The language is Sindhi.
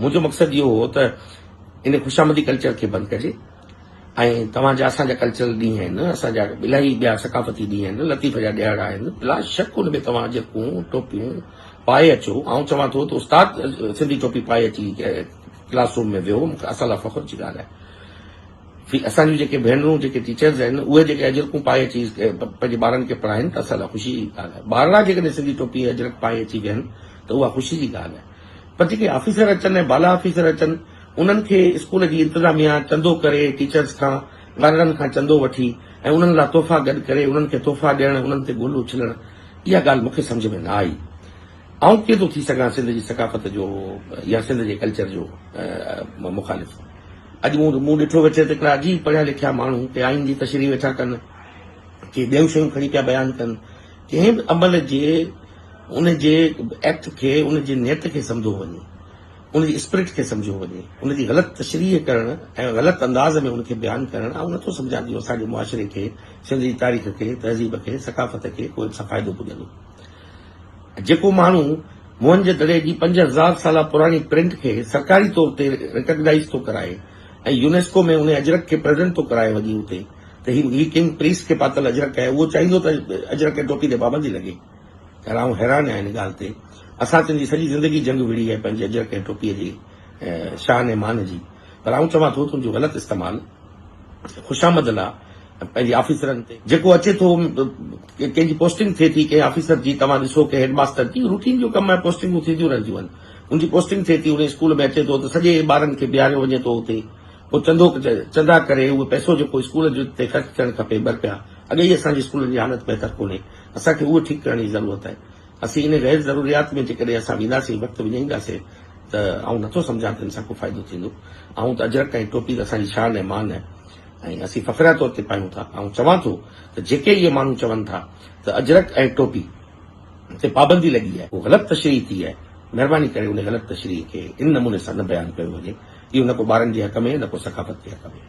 منهنجو مقصد اهو هو ته ان خوشامدي ڪلچر کي بند ڪجي ۽ توهان جا اسان جا ڪلچرل ڏينهن آهن، اسان جا الائي ٻيا ثقافتي ڏينهن آهن، لطيف جا ڏهاڙا آهن، بلا شڪ ان ۾ توهان جيڪون ٽوپيون پائي اچو، آئون چوان ٿو ته استاد سنڌي ٽوپي پائي اچي ڪلاس روم ۾ ويهو، مونکي اسان لاء فخر جي ڳالهه آهي. اسان جون جيڪي ڀينرون جيڪي ٽيچرز آهن اهي جيڪي اجرڪون پائي اچي پنهنجي ٻارن کي پڙهائين ته اسان لاء خوشي جي ڳالهه آهي، ٻارڙا جيڪڏهن سنڌي ٽوپي اجرڪ پائي اچي ويهن ته اها خوشي جي ڳالهه آهي. پر جيڪي آفيسر اچن ۽ بالا آفيسر اچن انهن کي اسڪول جي انتظاميا چندو ڪري ٽيچرس کان وارڙن کان چندو وٺي ۽ انهن لا تحفا گڏ ڪري انهن کي تحفا ڏيڻ انهن تي گل اڇلڻ اها ڳالهه مونکي سمجهه ۾ نه آئي آئون ڪيئن ٿو ٿي سگهان سنڌ جي ثقافت جو يا سنڌ جي ڪلچر جو مخالف اڄ مون مون ڏٺو ويٺي ته هڪڙا عجيب پڙهيا لکيا ماڻهو ڪي آئين جي تشريح ويٺا ڪن ڪي ٻيون شيون کڻي پيا بيان ڪن ڪنهن به عمل جي ان جي ايڪٽ کي ان جي نيت کي سمجهو وڃي، ان جي اسپرٽ کي سمجهو وڃي، ان جي غلط تشريح ڪرڻ ۽ غلط انداز ۾ ان کي بيان ڪرڻ آئون نٿو سمجهان جو اسان جي معاشري کي، سنڌ جي تاريخ کي، تهذيب کي، ثقافت کي ڪو ان سان فائدو پڄندو. جيڪو ماڻهو موهنجو دڙي جي پنج هزار سالا پراڻي پرنٽ کي سرڪاري طور تي ريڪگنائيز ٿو ڪرائي ۽ يونيسڪو ۾ ان اجرڪ کي پريزنٽ ٿو ڪرائي وڃي اتي، ته هي هي ڪنگ پريس کي پاتل اجرڪ آهي، اهو چاهيندو ته اجرڪ ۽ ٽوپي تي پابندي لڳي. خير آئون حيران آهيان ان ڳالهه تي. اسان تن جي سڄي زندگي جنگ وڙهي آهي پنهنجي اجرڪ ۽ ٽوپي جي شان ۽ مان جي. پر آئون چوان ٿو ته ان جو غلط استعمال خوشامد لا۽ پنهنجي آفيسرن تي جيڪو اچي ٿو ڪنهن جي پوسٽنگ ٿئي ٿي ڪنهن آفيسر جي توهان ڏسو ڪنهن هيڊ ماستر جي روٽين جو ڪم آهي پوسٽنگون ٿينديون رهنديون آهن ان جي پوسٽنگ ٿئي ٿي ان اسڪول ۾ اچي ٿو ته سڄي ٻارن کي بيهاريو وڃي ٿو اتي پوء چندو چندا ڪري اهو پئسو جيڪو اسڪول تي خرچ ٿيڻ کپي برپيا اڳي ئي اسان جي اسڪولن جي حالت بهتر ڪونهي اسان کي اهو ٺيڪ ڪرڻ جي ضرورت آهي اسين انهي غير ضروريات ۾ جيڪڏهن اسان وينداسين وقت وڃائينداسين ته آئون نٿو سمجهان ته ان سان ڪو فائدو ٿيندو آئون ته اجرڪ ۽ ٽوپي ته اسان جي شان ۽ مان آهي ۽ اسين فخريا طور تي پايون ٿا آئون چوان ٿو ته جيڪي اهي ماڻهو چون ٿا ته اجرڪ ۽ ٽوپي تي پابندي لڳي آهي اهو غلط تشريح ٿي آهي مهرباني ڪري ان غلط تشريح کي ان نموني سان نه بيان ڪيو وڃي اهو نه ڪو ٻارن جي حق ۾ نه ڪو ثقافت جي حق ۾ آهي.